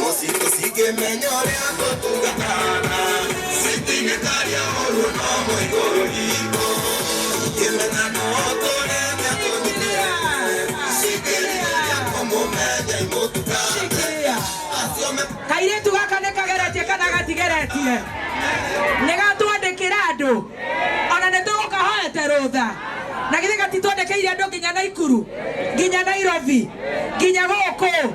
Ũcikĩmenya ũrĩa ngũtungatana, citingĩtaria ũguo no mũigũrũ riitũ. Ingĩmenya nũ ũtũũrĩte tũnyitĩrĩire, cingĩrirĩria kũmũmenya imũtungate. Acio me- kairĩtu gaka nĩ kageretie kana gatigeretie nĩ gatwandĩkĩra andũ ona nĩ tũgũkahoete rũtha na githĩ gatitwandĩkĩire andũ nginya naikuru nginya nairobi nginya gũkũ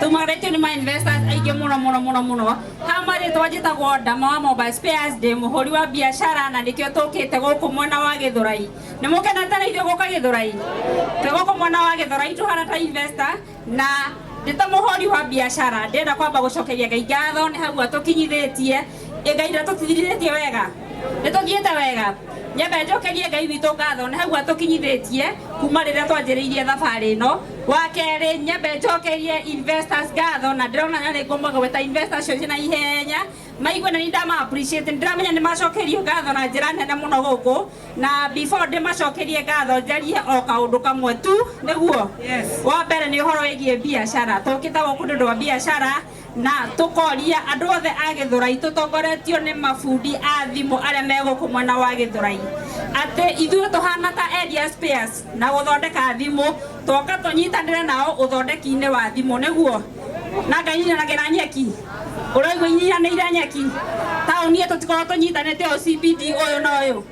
tumarĩtio nĩ ma investors aingĩ mũno mũno mũno mũno ha marĩtwa njĩtagwo ndama wa mobile spares ndĩ mũhũri wa biacara na nĩkĩo tũkĩte gũkũ mwena wa gĩthũrai nĩ mũkenete na ithuĩ gũka gĩthũrai twĩ gũkũ mwena wa gĩthũrai tũhana ta investor na ndĩ ta mũhũri wa biacara ndĩrenda kwamba gũcokeria ngai ngatho nĩ hau atũkinyithĩtie Ngai ndatũtigirĩtie wega nĩtũthiĩte wega nyambe njokerie ngai witũ ngatho nĩ hau atũkinyithĩtie kuma rĩrĩa twanjĩrĩirie thabarĩ ĩno wa kerĩ nyambe njokerie investors ngatho na ndĩrona na nĩguo mwagweta investors cio ciĩ na ihenya maigue na nindama appreciate nĩndĩramenya nĩ macokerio ngatho na njĩra nene mũno gũkũ na before ndĩmacokerie ngatho njarie o kaũndũ kamwe tu nĩguo wa mbere nĩ ũhoro wĩgiĩ biacara tũkĩte gũkũ nĩ ũndũ wa biacara Na tũkoria andũ othe a Gĩthũrai tũtongoretio nĩ mabundi a thimũ arĩa me gũkũ mwena wa Gĩthũrai atĩ ithuĩ tũhana ta Elia Spares na gũthondeka thimũ, twoka tũnyitanĩre nao ũthondeki-inĩ wa thimũ, nĩguo? Na nganyinanagĩra nyeki, ũraigua inyinyanĩire nyeki? Taũni ĩyo tũtikoragwo tũnyitanĩte ũyũ CBD ũyũ na ũyũ.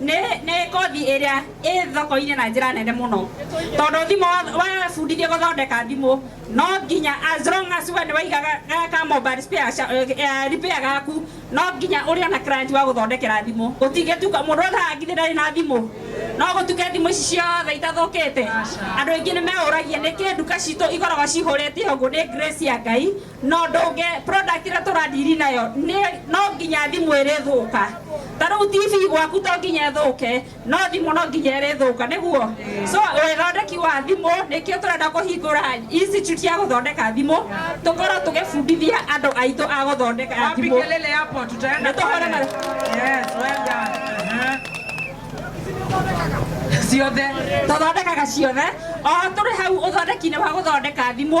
nĩ nĩ kothi ĩrĩa ĩ thoko-inĩ na njĩra nene mũno tondũ thimũ wa- wabundithio gũthondeka thimũ no nginya as long as we nĩ waigaga ga- ka mobile spare ca- eh, eh, repair gaku no nginya ũrĩ ona client wa gũthondekera thimũ gũtingĩtuka mũndũ ũthaga ngithĩ ndarĩ na thimũ no gũtuke thimũ ici ciothe itathũkĩte andũ aingĩ nĩ meũragia nĩkĩ nduka citũ ikoragwo cihũrĩte ũguo nĩ grace ya ngai no ndunge product ĩrĩa tũradiri nayo nĩ- no nginya thimũ ĩrĩthũka ta rĩu tv gwaku to nginya ĩthũke no thimũ no nginya ĩrĩthũka nĩguo so ũthondeki wa thimũ nĩkĩo tũrenda kũhingũra institute ya gũthondeka thimũ tũkorwo tũgĩbundithia andũ aitũ a gũthondeka Wapi thimũ kelele hapo? Tutaenda Na tuone pale. mara- Yes, well done. Aha. Ciothe. tũthondekaga ciothe o tũrĩ hau ũthondeki-inĩ wa gũthondeka thimũ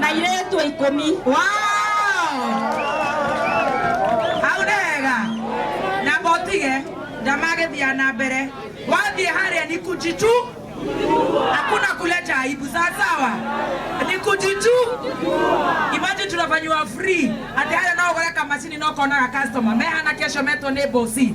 na airĩtu ikũmi hau nĩ wega na botige ndamagĩthiaga na mbere wathiĩ harĩa ni kujitu hakuna kuleta aibu sawasawa ni kujitu imagine tunafanyiwa free ati haya no ũgũre kamacini no konaga customer mehana kesho metwo nĩ bosi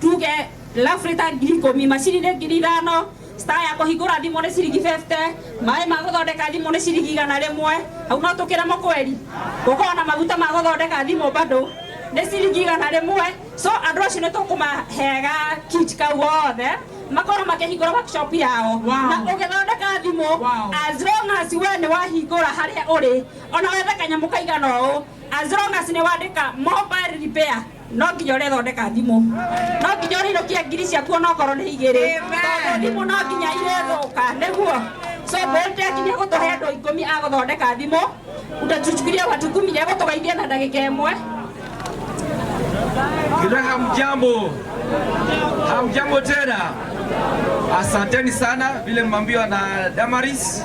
tuge lafrita ngiri ikũmi macini nĩ ngiri ithano star ya kũhingũra thimũ nĩ ciringi 50 maĩ ma gũthondeka thimũ nĩ ciringi igana rĩmwe hau no tũkĩremo kweri gũkorwo na maguta ma gũthondeka thimũ bado nĩ ciringi igana rĩmwe so andũ acio nĩ tũkũmahega kit kau gothe makorwo makĩhingũra workshop yao na ũgĩthondeka thimũ as long as we nĩ wahingũra harĩa ũrĩ ona wethe kanyamũ kaigana ũũ As long as nĩ wandĩka mobile repair no nginya ũrethondeka thimũ no nginya ũrĩinũkia ngiri ciaku onokorwo nĩ igĩrĩ tondũ thimũ no nginya irĩthũka nĩguo so Beltech nĩ gũtũhe andũ ikũmi a gũthondeka thimũ utatuchukulia watu kumi nĩ gũtũgeithia na ndagĩka ĩmwe Kila hamjambo, hamjambo tena. Asanteni sana vile mmeambiwa na Damaris.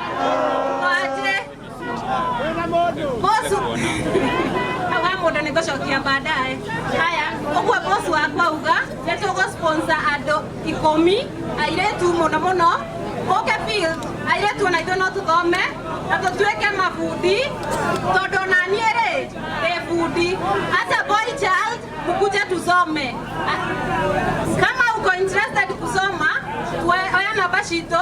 Waje. Bosu. Hawa mũndũ nĩ gũcokia baadaye. Haya, ũguo bosu wakwa uga nĩ tũgũsponsor andũ ikũmi airĩtu mũno mũno ũke field airĩtu ona ithuĩ no tũthome na tũtuĩke mabundi tondũ ona niĩ rĩ ndĩ bundi hata boy child mkuje tusome kama uko interested kusoma we- oya namba citũ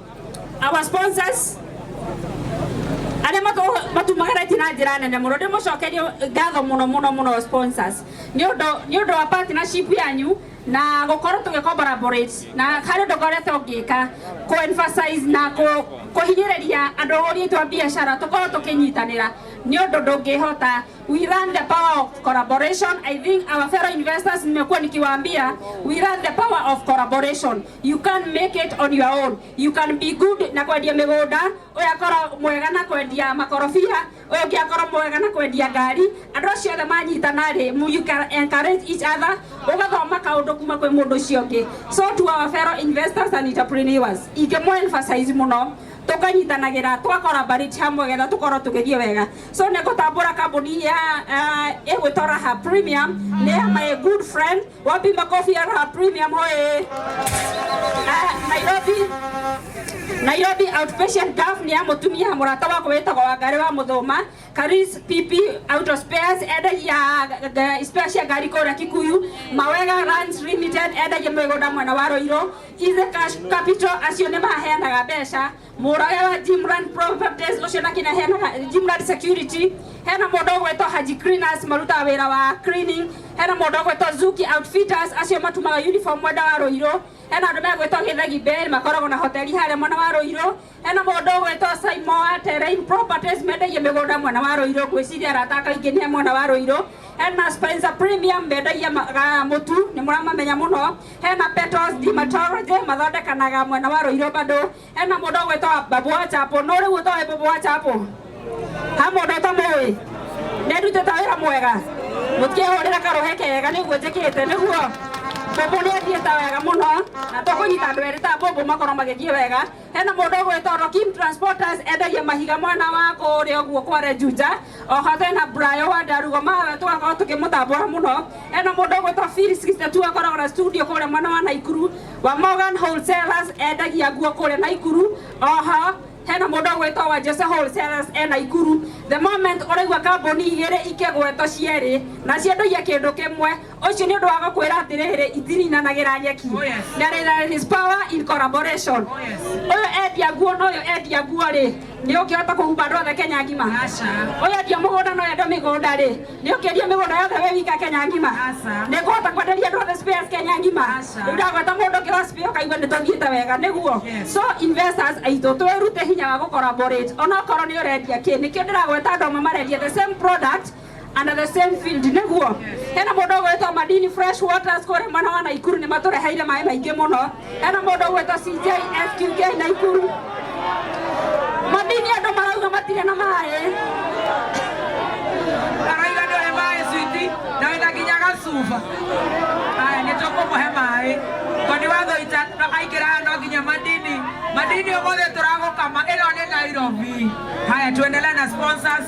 Our sponsors arĩa matũ- matumaga reti na njĩra nene mũno ndĩ mũcokerie ngatho mũno mũno mũno sponsors nĩ ũndũ nĩ ũndũ wa partnership yanyu na gũkorwo tũgĩ collaborate na harĩ ũndũ ngoretwo ngĩka kũ emphasize na kũ- kũhinyĩrĩria andũ ũrĩa twa biacara tũkorwo tũkĩnyitanĩra nĩ ũndũ ndũngĩhota we run the power of collaboration i think our fellow investors mmekuwa nikiwaambia we run the power of collaboration You can make it on your own. You can be good na kwendia mĩgũnda, ũyũ akorwo mwega na kwendia makorobia, ũyũ ũngĩ akorwo mwega na kwendia ngari. Andũ acio othe manyitana rĩ, mu- you can encourage each other, ũgathoma kaũndũ kuma kwĩ mũndũ ũcio ũngĩ. So to our fellow investors and entrepreneurs, ingĩmũ emphasize mũno tũkanyitanagĩra twakora mbarĩti hamwe getha tũkorwo tũgĩthiĩ wega so nĩ ngũtambũra kambũni ya uh, ĩgwĩtwo raha premium nĩ ya my good friend Wapi makofi ya Raha Premium hoye. Ah, Nairobi Nairobi outpatient gov ni ya mutumia murata wako wetagwo Wangari wa Muthuma Karis PP Auto Spares endagia ga- spare cia ngari kũrĩa Kikuyu Mawega Ranch Limited endagia mĩgũnda mwena wa Roiro Ize Cash Capital acio nĩ maheanaga mbeca Mũrage wa Jimland Properties ũcio na kinya hena Jimland Security, hena mũndũ ũgwĩtwo Haji Cleaners marutaga wĩra wa cleaning, hena mũndũ ũgwĩtwo Zuki Outfitters acio matumaga uniform mwena wa Rũirũ, hena andũ megwĩtwo Gĩthegi Bay makoragwo na hoteli harĩa mwena wa Rũirũ, hena mũndũ ũgwĩtwo Saimo wa Terrain Properties mendagia mĩgũnda mwena wa Rũirũ, ngwĩciria arata ake aingĩ nĩ a mwena wa Rũirũ, hena Spencer Premium mendagia ma- ga- mũtu nĩ mũramamenya mũno. hena petals dermatology mathondekanaga mwena wa rũirũ bado hena mũndũ ũgwĩtwa babu wa chapo no rĩu ũtoĩ babu wa chapo ha mũndũ ũtamũĩ nĩndutĩte wĩra mwega mũtikĩhũrĩra karũhe kega nĩguo njĩkĩte nĩguo mbũmbũ nĩ athiĩte wega mũno na tũkũnyita andũ erĩ ta mbũmbũ makorwo magĩthiĩ wega hena mũndũ ũgwĩtwa Rokim Transporters endagia mahiga mwena wa kũrĩa ũguo kwa Rejuja oho thena brayo wa ndarugo mawe twakorwo tukimutambura muno ena mundu ugwitwa Phil 62 akoragwo na studio kuria mwena wa Naikuru wa Morgan Wholesalers endagia nguo kuria Naikuru oho hena mundu ugwitwa wa Jose Wholesalers e Naikuru the moment uraigua kambuni igiri ikigwetwo cieri na ciendagia kindu kimwe ũcio nĩ ũndũ wa gũkwĩra atĩrĩrĩ itirinanagĩra nyeki na rĩrĩ his power in collaboration ũyũ endia nguo na ũyũ endia nguo rĩ nĩ ũngĩhota kũhumba andũ othe kenya ngima ũyũ endia mũgũnda na ũyũ endia mĩgũnda rĩ nĩ ũkĩendia mĩgũnda yothe wĩ wika kenya ngima nĩ kũhota kwenderia andũ othe spares kenya ngima rĩu ndagweta mũndũ ũngĩ wa spares ũkaigua nĩ tũthiĩte wega nĩguo so investors aitũ twĩrute hinya wa gũcollaborate onakorwo nĩ ũrendia kĩ nĩkĩo ndĩragweta andũ amwe marendia the same product under the same field niguo hena mundu ugwetwo madini fresh waters kuri mwana wa naikuru ni matureheire maĩ maingĩ mũno hena mundu ugwetwo cj fqk naikuru madini andũ marauga matirĩ na maĩ araiga ndohe maĩ switi na wĩna nginya gacuba aya nĩ tũkũmũhe maĩ tondũ wathoita aingĩra haha no nginya madini madini ũmũthĩ tũragũkama ĩno nĩ nairobi haya tuendele na sponsors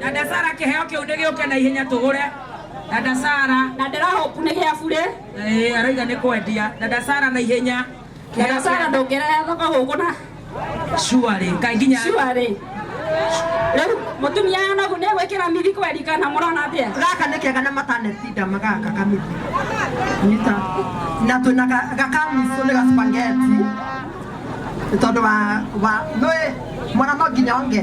Dada Sara kĩheo kĩu nĩ gĩũke na ihenya tũgũre. Dada Sara. Na ndĩra hope nĩ gĩa bure. Eh, araiga nĩ kwendia. Dada Sara na ihenya. Dada Sara ndũngĩrera thoko gũkũ na. Surely, kaĩ nginya. Surely. Rĩu mũtumia yanagu nĩ gwĩkĩra mithi kweri kana mũrona atĩa? Gaka nĩ kega na matanecida magaka kamithi. Nyita. Na twĩna ga- gakamiso nĩ gaspangeti. Nĩ tondũ wa wa nĩ mwana no nginya onge.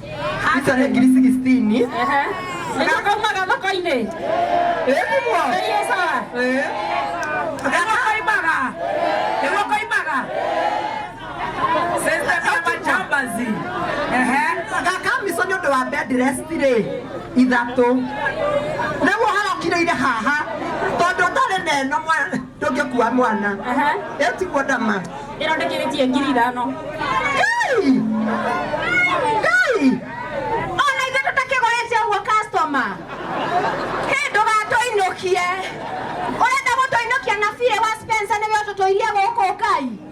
itare ngiri sixtini Ehe. Nĩgakaumaga thoko-inĩ. ĩguo Ngai e sawa. Nĩguo koimaga. Nĩguo koimaga. Sasa kama jambazi. Ehe. gakamico nĩ ũndũ wa bedrestirĩ ithatũ nĩguo harokire ire haha tondũ ndarĩ neno mwa- ndũngĩkua mwana ĩtiguo ndama ĩno ndĩkĩrĩtie ngiri ithano Ngai! Ngai! ona ithuĩ tũtakĩgũrĩte ũguo customer hĩ ndũgatũinũkie ũrenda gũtũinũkia na birĩ wa spencer nĩwe ũtũtũirie gũkũ ngai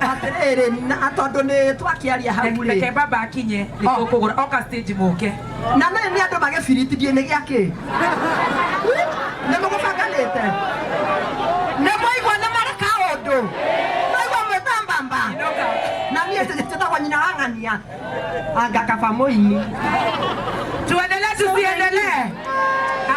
atĩrĩrĩ na tondũ nĩ twakĩaria hau rĩ reke baba akinye Oh. nĩtũkũgũra oka stage mũke na nĩ nĩ andũ magĩbiritithie nĩ gĩa kĩ nĩ mũgũbanganĩte nĩ mwaigua nĩ mareka ũndũ mwaigua mwĩtambamba Inoka. na niĩ njĩtagwo nyina wa ng'ania angakaba mũini tuendelee tusiendelee